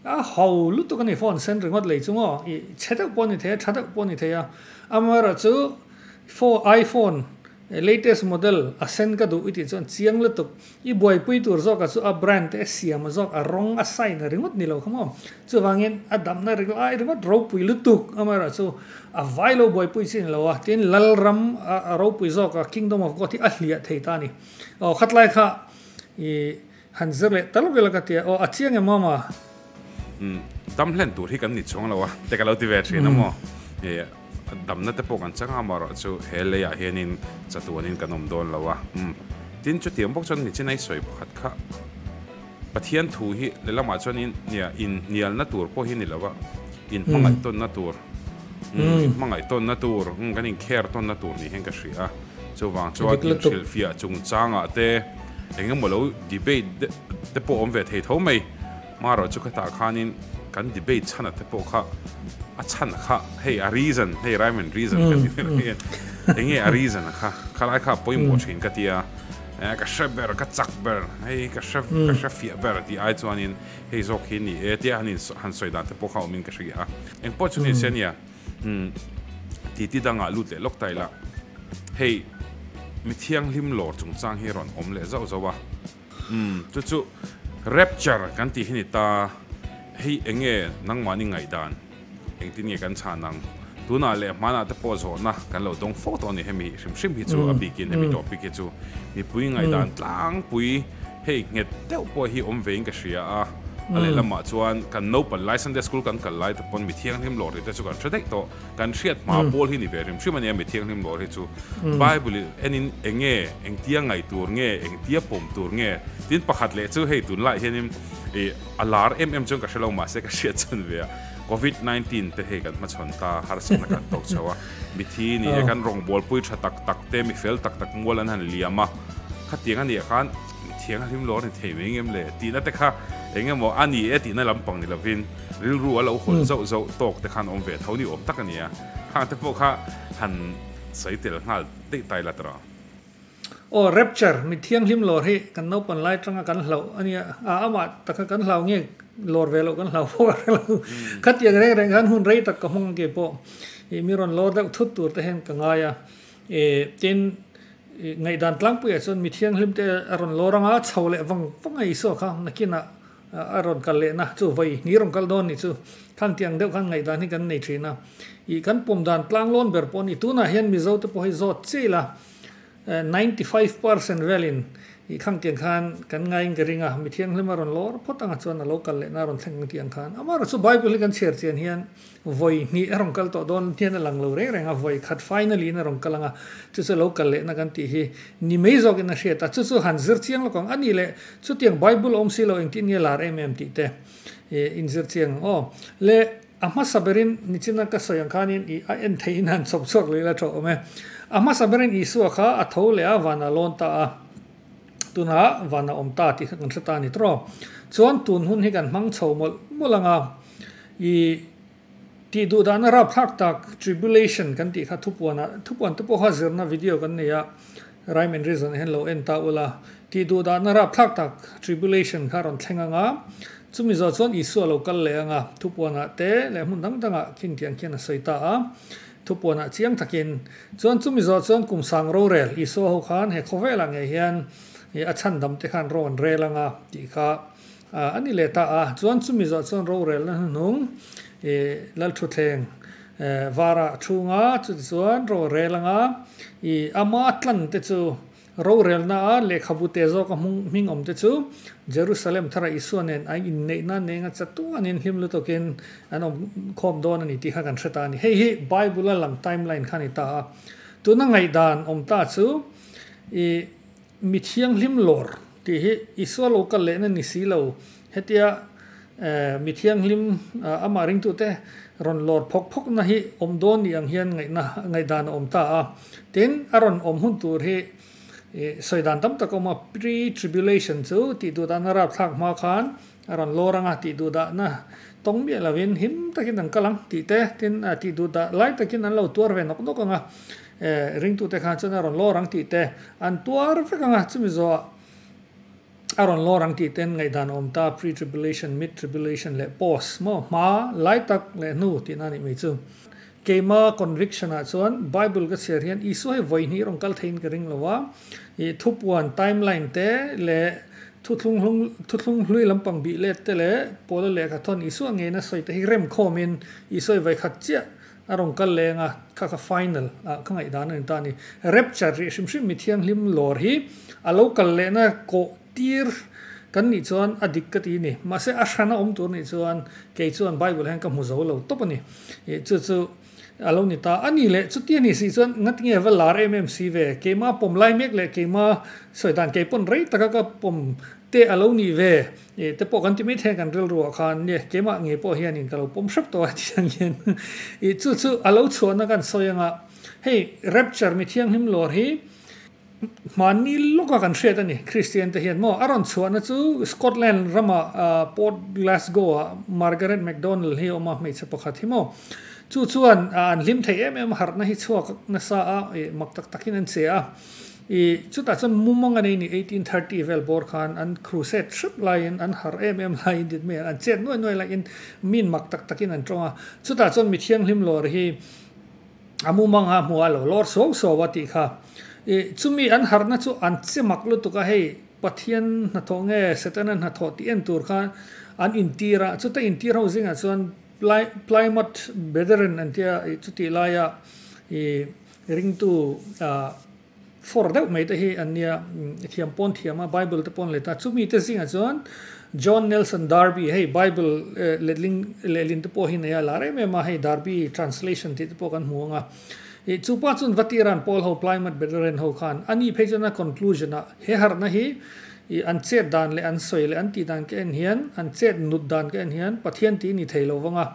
Speaker 2: a ho lutuk a ni phone sen ringawt lei chu ngaw, i chhe deuh pawh a ni thei a, tha deuh pawh a ni thei a, amara chu phone iphone latest model a sen ka duh i tih chuan chiang lutuk, i buaipui tur zawkah chu a brand te a siam zawk a rawng a sign a ringawt ni lo kha maw, chuvangin a damna ri lai ringawt ropui lutuk amara chu a vai lo buaipui chi ni lo a, tin lalram a ropui zawkah kingdom of God hi a hliah thei ta a ni, aw khatlai kha i Han zir leh tal vel a ka tia. Aw, a chiang em mawm a? Umm, dam hlen tur hi kan ni chuang lo a, te ka lo ti ve thin a maw? Hei, a damna te pawh kan chang a amaherawh chu he lei ah hianin
Speaker 1: chatuanin kan awm dawn lo a. Umm, tin chutiang bawk chuan mi chinai sawi pakhat kha Pathian thu hi lehlamah chuan in, nia, inhnialna tur pawh hi ni lo a, inhmangaihtawnna tur. Min hmangaih tawnna tur, kan inkher tawnna tur nih hian ka hria a. Chuvang chuan inhrilhfiah chungchangah te engemaw lo debate te pawh awm ve thei tho mai. Marawh chu khatah khanin kan debate chhana te pawh kha a chhana kha hei a reason, hei rhyme and reason kan tih vel hi enge a reason a kha khalai kha pawimawh thin ka tia, ka hre ber, ka chak ber, hei ka hre ka hrefiah ber tih ai chuanin, hei zawk hi ni e tia han han sawi dan te pawh kha awmin ka hre a eng pawh chu ni se nia umm titi dangah lut leh lawk ta ila hei mi thianghlim lawr chung chang hi rawn awm leh zauh zauh a umm chu chu rapture kan tih hi ni ta hei eng nge nangmahni ngaihdan Engtin nge kan chhan ang? Tunah leh hmanah te pawh zawhna kan lo dawng fo tawh a ni. Hemi hrim hrim hi chu a bikin hemi topic hi chu mipui ngaihdan tlangpui hei nghet deuh pawh hi awm ve in ka hria a. A lehlamah chuan kan naupal lai Sunday School kan kal lai te pawn mi thianghlim lawrhte te chu kan hre daih tawh. Kan hriat hma pawl hi ni ve hrim hrim a nia mi thianghlim lawrh hi chu. Bible en in eng nge engtia ngaih tur nge engtia pawm tur nge tin pakhat leh chu hei tunlai hian in i A lar em em chuan ka hre lo mahse ka hriat chhan ve a, Covid nineteen te hei kan hmachhawn ta harsatna kan tawk chho a, mithi nih e kan rawng bualpui tha tak tak te mifel tak tak mual an han liam a, khatiang anih khan mithiang a hlim lo a ni thei mai ngem le tihna te kha eng emaw a ni e tihna lampang ni lovin rilru a lo hawn zauh zauh tawk te khan awm ve tho ni awm tak a ni a,
Speaker 2: khangte pawh kha han sawi tel nghal daih tai la tawh. Aw Rapture mi thianghlim lawr hi kan naupan lai tanga kan hlauh a nia, a ama taka kan hlau nge lawr ve loh kan hlau fo a reng lo. Khatiang reng reng khan hun rei tak ka hmang ang kei pawh i mi rawn lawr deuh thut tur te hian ka ngai a e tin i ngaihdan tlangpuiah chuan mi thianghlim te a rawn lawr anga chho leh vang vang a isaw kha nakinah A rawn kal lehna chu vawi ni rawn kal dawn ni chu khan ti ang deuh khan ngaihdan hi kan nei thin a. Ih kan pawm dan tlang lawn ber pawh a ni. Tunah hian Mizo te pawh hi zawt chiah ila ninety five percent velin ih khang tiang khan kan ngaiin ka ring a. Mithiang hlema rawn lawr phawt anga chuan a lo kal lehna rawn thleng ang tih ang khan. Amaherawhchu Bible hi kan chhiar chian hian Vawi hnih a rawn kal tawh dawn hian a lang lo reng reng a, vawi khat finally in a rawn kal ang a, chu chu lo kal lehna kan tih hi ni mai zawk in a hriat a, chu chu han zir chiang lawk ang a ni le, chutiang Bible a awm si lo eng tih nge lar em em tih te ih in zir chiang ang aw le a hmasa ber in ni chin a ka sawi ang khan in ih a en thei in han chhawp chhuak leh ila tho awm e, a hmasa ber in Isua kha a tho leh a van a lawn ta a. Tunah van a awm ta tih kha kan hre ta ni tawh. Chuan tun hun hi kan hmang chho mawlh mawlh ang a, ih tih duh dahna rap thlak tak tribulation kan tih kha thupuan ah thupuan te pawh kha zirna video kan nei a, rhyme and reason hian lo en ta ula, tih duh dahna rap thlak tak tribulation kha a rawn thleng ang a, chumi zawh chuan Isua lo kal leh ang a, thupuan ah te leh hmun dang dang ah khin tiang khian a sawi ta a. Thupuana chiang takin chuan chu Mizo chuan kum sang rorel Isua ho khan he khawvelah ngei hian a chhan dam te khan rawn rel ang a tih kha a ni leh ta a. Chuan chu Mizo chuan rorelna hnuhnung Lal Thuthleng vara chhunga chuti chuan rawn rel ang a, i ama tlan te chu. Rorelna a lehkhabute zawk a hmung hming awmte chu Jerusalem thara Isua nen an inneih nan nenga chatuanin hlim lutukin an awm khawm dawn a ni tih kha kan hre ta a ni. Hei hi Bible-a lang timeline kha a ni ta a. Tuna ngaihdan awm ta chu i mithianghlim lawr tih hi Isua lo kal lehna ni si lo. Hetia Mi Thianghlim amah ringtute rawn lawr phawk phawkna hi awm dawn nih ang hian ngaihna ngaihdan a awm ta a. Tin, a rawn awm hun tur hi sawi dan tam tak a awm a, Pre-tribulation chu tih duh dahna rapthlak hma khan a rawn lawr ang a, tih duh dahna tawng miah lovin him takin an kal ang tih te, tin, tih duh dah lai takin an lo tuar ve nawk nawk ang a, ringtute khan chuan a rawn lawr ang tih te an tuar vek ang a, chumi zawhah A rawn lawr ang tih ten ngaihdan a awm ta, pre-tribulation, mid-tribulation leh post maw? Hma, lai tak leh hnu tihna a nih mai chu. Keima conviction ah chuan Bible ka chhiar hian Isua hi vawihnih rawn kal theiin ka ring lo a, ih thupuan, timeline, te leh thuthlung hlung thuthlung hlui lampang bih let te leh Paula lehkha thawn Isua ngeina sawi te hi rem khawmin Isua hi vawikhat chiah A rawn kal leng a, kha kha final ah kha ngaih dan a ni ta ni. Rapture rih hrim hrim mi thianghlim lawr hi a lo kal lehna kawh tir kan nih chuan a dik ka ti ni. Mahse a hrana awm tur nih chuan kei chuan Bible hian ka hmu zo lo tawp a ni. Ih chu chu a lo ni ta. A ni le, chutia ni si chuan ngat nge va lar em em si ve? Keimah pawm lai mek leh keimah sawi dan kei pawn rei taka ka pawm te a lo ni ve. E, te pawh kan ti maithei kan rilru ah khan nge keimah nge pawh hian in ka lo pawm hrep tawh a ti ang hian i chu chu a lo chhuah na kan sawi ang a hei rapture mi thianghlim lawr hi hmanni lawk a kan hriat a ni kristian te hian maw a rawn chhuah na chu scotland ram ah a port glasgow ah margaret mcdonald hi a awm a hmeichhe pakhat hi maw chu chuan a an hlim thei em em a harh na hi chhuak na sa a e mak tak tak in an che a. I, chutah chuan mumang a nei ni eighteen thirty vel bawr khan an crusade hrep laiin an har em em laiin dit mai ang an chet nuai nuai laiin min mak tak takin an tawng a, chutah chuan mi thianghlim lawr hi a mumang a hmu a lo lawr suau suau a tih kha i chumi an harna chu an che mak lutuk a hei Pathian hnathawh nge Setana hnathawh tih en tur kha an intir a, chuta intir ho zingah chuan Plymouth Brethren an tia i chuti laia i. Ringtu a for deuh mai te hi an nia, thiam pawn thiam a, Bible te pawn let a. Chumi te zingah chuan John Nelson Darby, hei Bible letling lehlin te pawh hi nei a, lâr em em a, hei Darby Translation tih te pawh kan hmu ang a. Ih, chu pa chuan Vati ran Paul ho, Plymouth Brethren ho khan an nih phei chuan a conclusion ah, he harhna hi ih an chet dan leh an sawi leh an tih dan ka en hian, an chet nut dan ka en hian Pathian tih i ni thei lo vang a.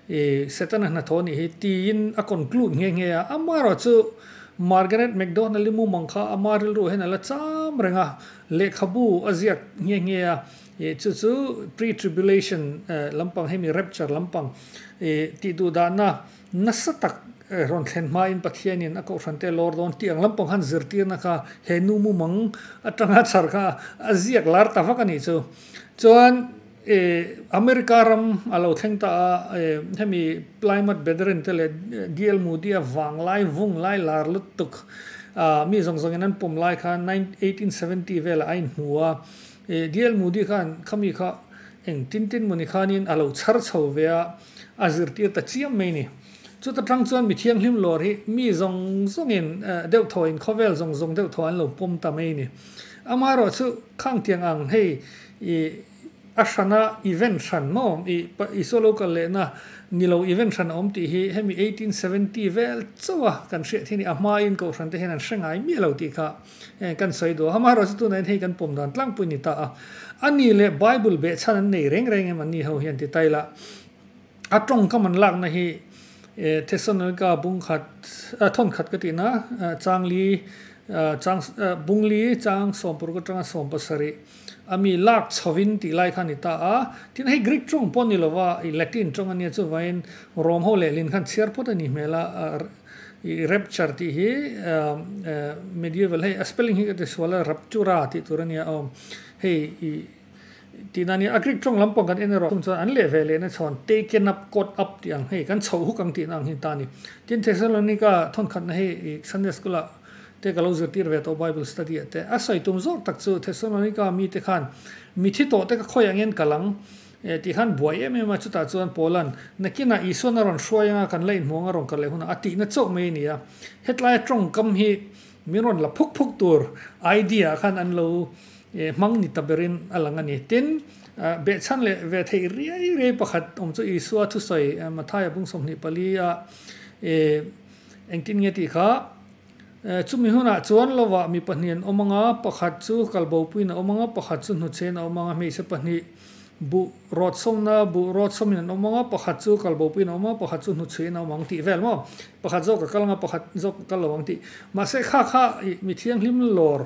Speaker 2: I Setana hnathawh nih hi tiin a kawn klut nghe nghe a, amaherawh chu Margaret McDonald-i mumang kha ama rilru hian a la cham reng a, lehkhabu a ziak nghe nghe a, i chu chu pre-tribulation lampang hemi rapture lampang i tih duh dahna nasa tak rawn thlen hmain Pathianin a Kohhrante lawr dawn tih ang lampang khan zirtirna kha he nu mumang atanga chhar kha a ziak lar ta vak a nih chu. Chuan. E. America ram a lo thleng ta a, e, hemi Plymouth Brethren te leh DL Moody a vanglai vung lai lar lutuk a mi zawng zawngin an pawm lai kha eighteen seventy velah a inhmu a, e, DL Moody khan khami kha eng tin tin mawni khanin a lo chhar chho ve a, A zirtir ta chiam mai ni. Chuta tang chuan mi thianghlim lawr hi mi zawng zawngin deuh thawiin khawvel zawng zawng deuh thaw an lo pawm ta mai ni. Ama erawh chu khang tiang ang hei i a hrana event hran maw i Isua lo kal lehna ni lo event hran a awm tih hi hemi eighteen seventy vel chauha kan hriat hi a ni. A hmain Kohhran te hian an hre ngai miah lo tih kha. Heng kan sawi duh a, Hamaherawh chu tunah hian hei kan pawm dan tlangpui ni ta a. A ni leh Bible beh chhan an nei reng reng em an ni ho hian ti ta ila, a tawngkam an lakna hi Thessalonica bung khat, a thawn khat ka tihna, chang li, chang, bung li, chang sawmpuruk atanga sawm pasarih a mi lak chhoin tih lai kha a ni ta a. Tin, hei Greek tawng pawh ni lova, Latin tawng ania, chuvaiin Rome ho leh lin khan chhiar phawt a nih hmel a, I rapture tih hi medieval hei a spelling hi ka ti sual a raptura tih tur a nia aw hei i tih na ania a greek tawng lam pawh kan en erawh a chung chuan an leh ve leh na chhawn taken up caught up tih ang hei kan chhoh huk ang tih na ang hi ta ni tin thessalonica thawn khat na hei i sunday school ah te ka lo zirtir ve tawh bible study ah te a sawi tum zawk tak chu thessalonica mi te khan mithi tawh te ka khawi ang in ka lang E tih khan buai em em a, chutah chuan Paula'n, Nakinah Isua'n a rawn hruai anga kan la inhmuang a rawn kal leh hunah a tihna chauh mai a ni a. Hetlaia tawngkam hi min rawn la phuk phuk tur idea khan an lo hmang ni ta berin a lang a ni. Tin, behchhan leh ve theih riai riai pakhat awm chu Isua thusawi Mathaia bung sawmhnih pali a engtin nge tih kha, E, chumi hunah chuan lovah mi pahnih an awm ang a, pakhat chu kalbopuiin a awm ang a, pakhat chu hnuchhein a awm ang a, hmeichhe pahnih buh rawtsawmna, buh rawtsawmin an awm ang a, pakhat chu kalbopuiin a awm a, pakhat chu hnuchhein a awm ang tih vel maw? Pakhat zawk a kal ang a, pakhat zawk a kal lo ang tih. Mahse, kha kha mi thianghlim lawr.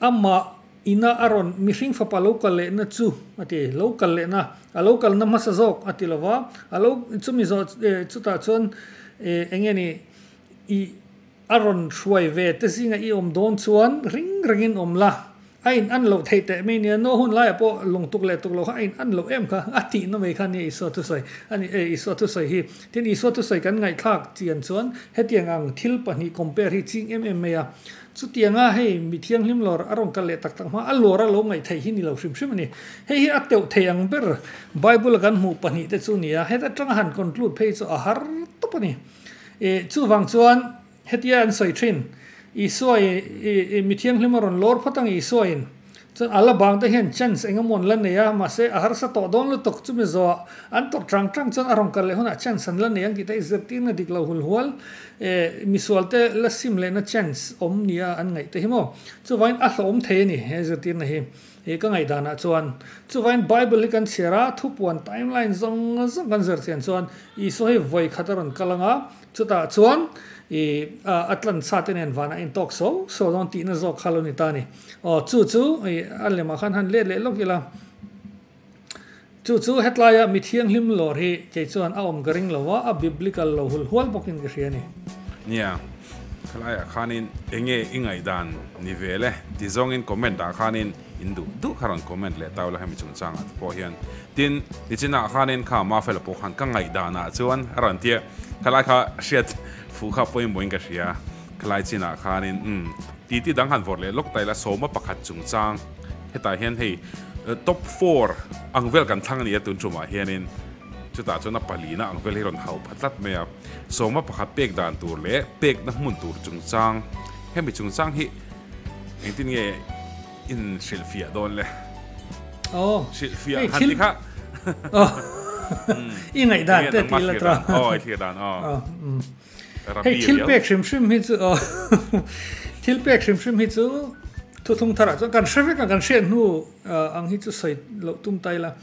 Speaker 2: Amah ina a rawn mihring fapa lo kal lehna chu a ti, lo kal lehna, a lo kalna hmasa zawk a ti lo va, a lo, chumi zawh chutah chuan eng nge ni, i a rawn hruai ve te zinga i awm dawn chuan ring rengin awm la, a in an loh theih teh mai nia, no hun laia pawh lawng tuk leh tuk lo kha a in an loh em kha a tihna mai kha nia Isua thusawi a ni e, Isua thusawi hi. Tin, Isua thusawi kan ngaihthlak chian chuan hetiang ang thil pahnih compare hi ching em em mai a, Chutianga hei mi thianghlim lawr a rawn kal leh tak tak hma a lawr a lo ngaih theih hi ni lo hrim hrim a ni. Hei hi a teuh thei ang ber Bible-a kan hmuh pahnih te chu nia. Heta tanga han conclude phei chu a har tawp a ni. Ih, chuvang chuan hetia an sawi thin, Isua-i, ih, mi thianghlim a rawn lawr phawt ang Isua-in. Chuan a la bang te hian chance eng emawn la nei a, mahse a harsa tawh dawn lutuk, chumi zawh an tawrh chang chang chuan a rawn kal leh hunah chance an la nei ang tih te i zirtirna dik lo hul hual e, misual te la sim lehna chance awm nia an ngaih te hi maw? Chuvaiin a hlawm thei a ni he zirtirna hi e, ka ngaih danah chuan. Chuvaiin Bible hi kan chhiar a, thupuan timeline zawng zawng kan zir chian chuan Isua hi vawi khat a rawn kal anga Chutah chuan i a tlan sa te nen vanah in tawk so so dawn tihna zawk kha lo ni ta ni. Aw chu chu i a lem ah khan han let leh lawk ila. Chu chu hetlai a mithiang hlim lawr hi kei chuan a awm ka ring lo a, a biblical lo hul hual bawk in ka hria ni. Nia,
Speaker 1: khalaia khanin enge i ngaihdan ni ve le? Ti zawngin comment ah khanin In duh duh kha rawn comment leh tau la hemi chungchang ah te pawh hian. Tin, nichin ah khanin kha Mafela pawh khan ka ngaih dan ah chuan a rawn tia. Khalai kha hriat fuh kha pawhin boin ka hria. Khalai chin ah khanin umm titi dang han vawr leh lawk ta ila sawma pakhat chungchang hetah hian hei top four ang vel kan thlang nia tun tumah hianin chutah chuan a pali na ang vel hi rawn hau pha tlat mai a. Sawma pakhat pek dan tur leh pekna hmun tur chungchang hemi chungchang hi Engtin nge in hrilh fiah dawn le? Oh. Hrilh fiah han ti kha. Oh.
Speaker 2: I ngai dan te ti la tra. Oh, i thlir dan. Oh.
Speaker 1: oh mm.
Speaker 2: Hei thil pek hrim hrim hi chu oh. thil pek hrim hrim hi chu thu thung thara chu kan hre vek kan hriat hnu ang hi chu soi lo tum tai la.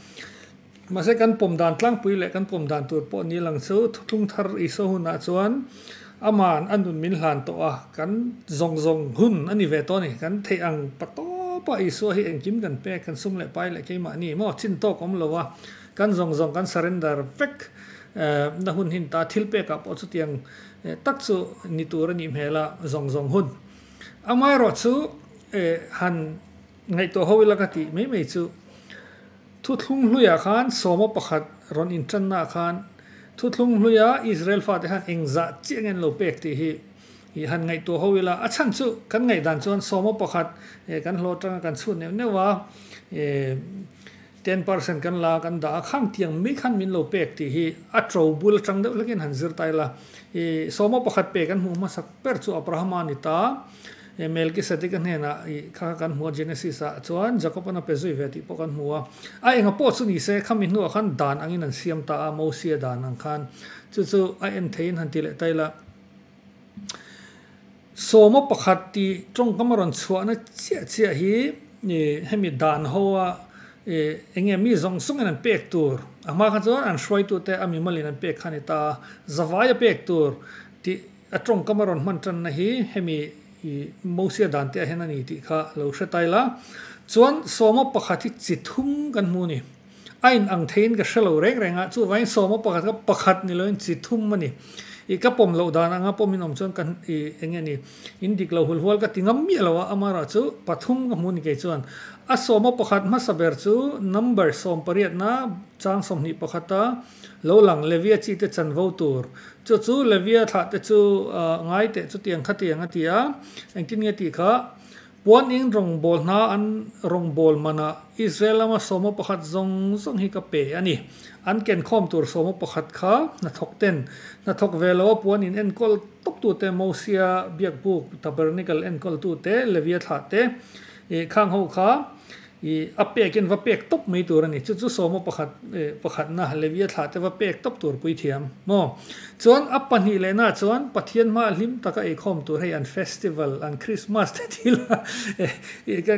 Speaker 2: Mahse, kan pawm dan tlangpui leh kan pawm dan tur pawh ni lang chu Thuthlung Thar Isua hunah chuan Ama'n a nun min hlan tawh a, kan zawng zawng hun a ni ve tawh a ni. Kan theih ang pa tawp a, Isua hi engkim kan pek, kan sung leh pai leh keimah ni maw? Chin tawk awm lo a, kan zawng zawng kan surrender vek na hun hin ta. Thil pekah pawh chutiang tak chu ni tur a nih hmel a, zawng zawng hun. Amaerawh chu han ngaihtuah ho ila ka tih mai mai chu. Thuthlung hluiah khan sawma pakhat rawn intannaah khan thuthlung hluia Israel fate han eng zah chiah ngen lo pek tih hi ih han ngaihtuah ho ila, a chhan chu kan ngaih dan chuan sawma pakhat eh kan hlawh atanga kan chhut neuh neuh a, eh ten percent kan la kan dah a, khang tiang mai khan min lo pek tih hi a to bul atang deuh hlekin han zir ta ila, ih sawma pakhat pek kan hmuh hmasak ber chu Abrahama a ni ta. He Melkisedeka hnenah i kha kha kan hmu a, Genesis-ah chuan Jakob-a'n a pe zui ve tih pawh kan hmu a. A enga pawh chu ni se, khami hnuah khan dan angin an siam ta a, Mosia dan ang khan. Chu chu a en theiin han ti leh ta ila, sawma pakhat tih tawngkam a rawn chhuahna chiah chiah hi hemi dan hoa eng nge mi zawng zawngin an pek tur, a hma kha chuan an hruaitute a mimalin an pek kha a ni ta a, zavai a pek tur tih. A tawngkam a rawn hman tanna hi hemi Mosia dan te ahin a ni tih kha lo hre tail a. Chuan sawma pakhat hi chi thum kan hmu ni. A in ang thei in ka hre lo reng reng a, chu vain sawma pakhat kha pakhat ni lo in chi thum a ni. I ka pawm loh dan ang a, pawm in awm chuan ka i eng nge ni in dik lo hul hual ka ti ngam miah lo a, ama erawh chu pathum ka hmu ni kei chuan. A sawma pakhat hmasa ber chu number sawm pariat na chang sawmhnih pakhat a, Lo lang, Levia chite chanvo tur chu chu Levia thlahte chu ngai teh chutiang kha tiang a ti a, engtin nge tih kha, Puaning rawngbâwl hna an rawngbâwl manah Israel lama sawma pakhat zawng zawng hi ka pe a ni. An kenkhawm tur sawma pakhat kha hnathawk ten, hnathawk ve loa puanin enkawl tawktute Mosia biakbuk, tabernacle, enkawltute, Levia thlahte, khang ho kha, I a pek in va pek tawp mai tur a ni. Chu chu sawma pakhat leh pakhatna Levia thlahte va pek tawp tur puithiam maw? Chuan a pahnih lehnaah chuan Pathian hmaah hlim tak a eikhawm tur hei an festival, an Krismas te ti la,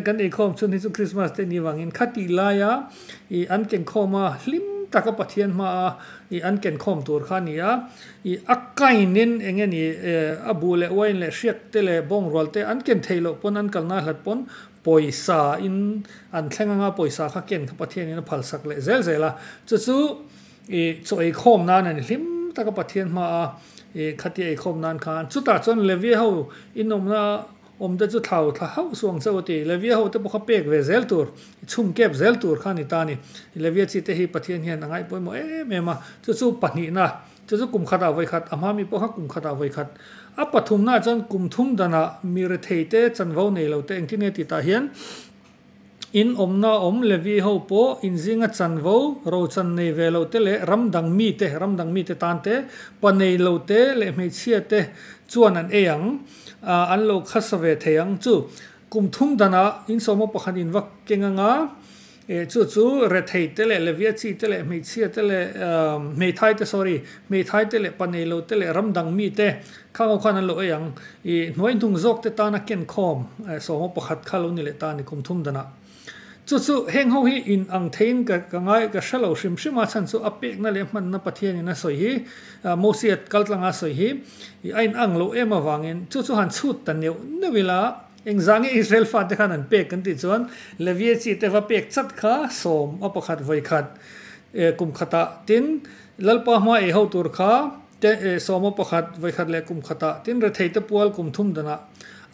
Speaker 2: kan eikhawm chhun hi chu Krismas te ni vangin kha tih laia i an kenkhawm a, hlim tak a Pathian hmaah i an kenkhawm tur kha a ni a. I a kind in eng nge ni, a buh leh uain leh hriakte leh bawngrualte an ken theih loh pawn an kal nahlat pawn, Pawisa in an thleng anga pawisa kha ken kha Pathian in a phal sak leh zel zel a, chu chu i chaw ei khawm nan a ni hlim tak a Pathian hma a i khatia ei khawm nan khan. Chutah chuan Levia ho in awmna awm te chu thlau thla hauh suh ang che u ti, Levia ho te pawh kha pek ve zel tur i chhum kep zel tur kha a ni ta a ni. Levia chi te hi Pathian hian a ngaihpawimawh em em a, chu chu pahnihna Chu chu kum khatah vawi khat, a hma mi pawh kha kum khatah vawi khat. A pathumnaah chuan kum thum danah mi rethei te, chanvo nei lo te engtin nge tih tah hian in awmnaah awm Levi ho pawh inzinga chanvo, ro chan nei ve lo te leh ram dang mi te, ram dang mite tan te, pa nei lo te leh hmeichhia te chuan an ei ang, ah an lo khasa ve thei ang chu. Kum thum danah insawma pakhat in va keng anga E, chu chu Rethei te leh Leviachi te leh hmeichhia te leh Hmeithai te sorry, Hmeithai te leh Paneilo te leh ram dang mi te kha ngaw khan an lo ei ang. I, hnuai hnung zawk te tana kenkhawm e, sawma pakhat kha lo ni leh ta a ni kum thum dan a. Chu chu heng ho hi in ang theiin ka ka ngai ka hre lo hrim hrim a chhan chu a pekna leh hmanna Pathianin a sawi hi a Mosia kaltlanga sawi hi i a in ang lo em avangin chu chu han chhut ta neuh neuh ila Engzah nge Israel fate khan an pek kan tih chuan Levie chi te va pek chat kha sawm a pakhat vawi khat eh kum khatah tin Lalpa hma ei ho tur kha te eh sawm a pakhat vawi khat leh kum khatah tin rethei te pual kum thum danah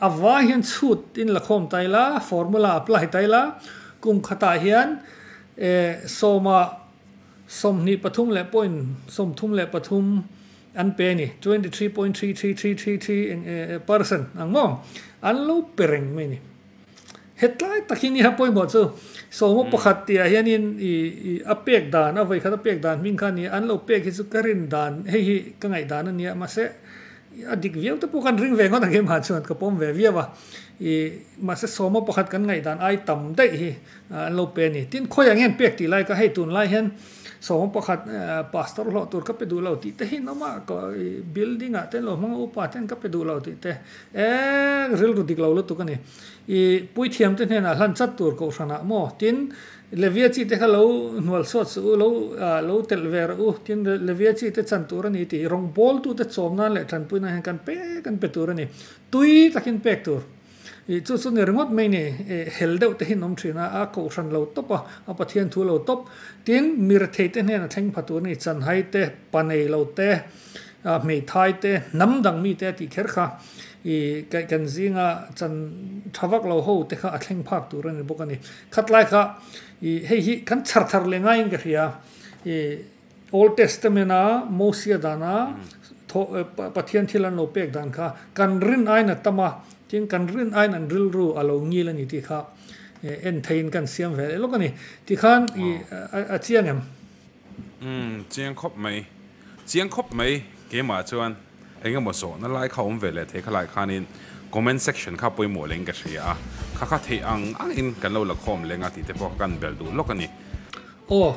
Speaker 2: a vai hian chhut in la khawm ta ila formula apply ta ila kum khatah hian eh sawma sawmhnih pathum leh point sawmthum leh pathum An pe ni, twenty three point three three three three three enge percent ang maw? An lo pe reng mai ni. Hetlai tak hi niha pawimawh chu sawma pakhat tihah hianin i i a pek dan a vawi khat a pek dan hming kha a ni a, an lo pek hi chu ka rin dan hei hi ka ngaih dan a nia mahse a dik viau te pawh khan ring ve ngawt ang e mah chuan ka pawm ve viau a, i mahse sawma pakhat kan ngaih dan ai tam daih hi an lo pe a ni. Tin khawiah ngen pek tih lai ka hei tunlai hian Sawm pakhat pastor hlawh tur ka pe duh lo tih te hi an awm a, building ah te an lo hmang a, upa ten ka pe duh lo tih te eng rilru dik lo lutuk a ni. I puithiam te hnenah hlan chat tur kohhran ah maw tin Levia chi te kha lo hnual sawt suh u, lo telh ve rawh u, tin Levia chi te chan tur a ni tih rawngbawltu te chawm nan leh tanpui nan hian kan pek an pe tur a ni, tui takin pek tur. I chu chu ni ringawt mai ni, eh, hel deuh te hi an awm thin a, a kohhran lo tawp a, a Pathian thu lo tawp. Tin, mir thei te hnena thleng pha tur ni, chanhai te, pa nei lo te, ah, hmeithai te, hnam dang mi te a tih kher kha, i, kaih kan zing a, chan tha vak lo ho te kha a thleng phak tur a ni bawk a ni. Khatlai kha, i, hei hi kan chhar thar leh ngaiin ka hria, i, Old Testament a Mosia dana Pathian thil an lo pek dan kha kan rin aiin a tam a, tin kan rin aiin an rilru a lo ngil a ni tih kha en theiin kan siam ve leh lawk a ni. Tikhan a chiang em? Umm, chiang khawp mai.
Speaker 1: Chiang khawp mai, keimah chuan. Engemaw zawh na lai kha awm ve leh thei kha lai khanin comment section kha pawimawh leng ka hria a, kha kha theih ang ang in kan lo la khawm leng a tih te pawh ka kan bel duh lawk a ni. Aw,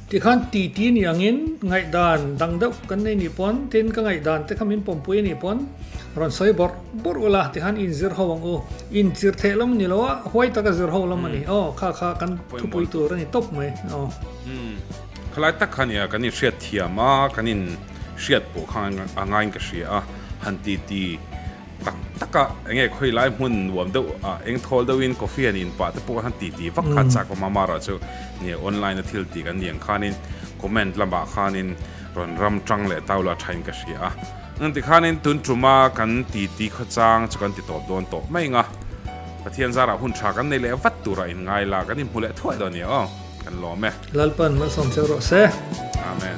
Speaker 2: tikhan titi ni angin ngaihdan dang deuh kan nei nih pawn, tin ka ngaihdan te kha min pawmpui a nih pawn, rawn sawi bawr bawr ula tikhan inzir ho ang u, inzir theih lam ni loa huai taka zir ho lam a ni aw, kha kha kan thupui tur a ni tawp mai aw.
Speaker 1: Khalai tak kha nia kan inhriat thiam a, kan in. hriat pawh kha a ngain ka hria a, han titi tak taka eng nge khawi lai hmun nuam deuh ah eng thawl deuh in coffee han in pah te pawh han titi vak khan chak awm a mar ah chu ni online a thil ti kan ni ang khan in comment lam ah khan in rawn ram tang leh tau la tha in ka hria a, eng ti khan in tun tum a kan titi khaw chang chu kan ti tawp dawn tawh mai anga Pathian zar ah hun tha kan nei leh vat tur ah in ngai
Speaker 2: la kan in hmu leh thuai dawn nia aw. kan lawm e. Lalpa
Speaker 1: an malsawm
Speaker 2: cheu rawh se. Amen.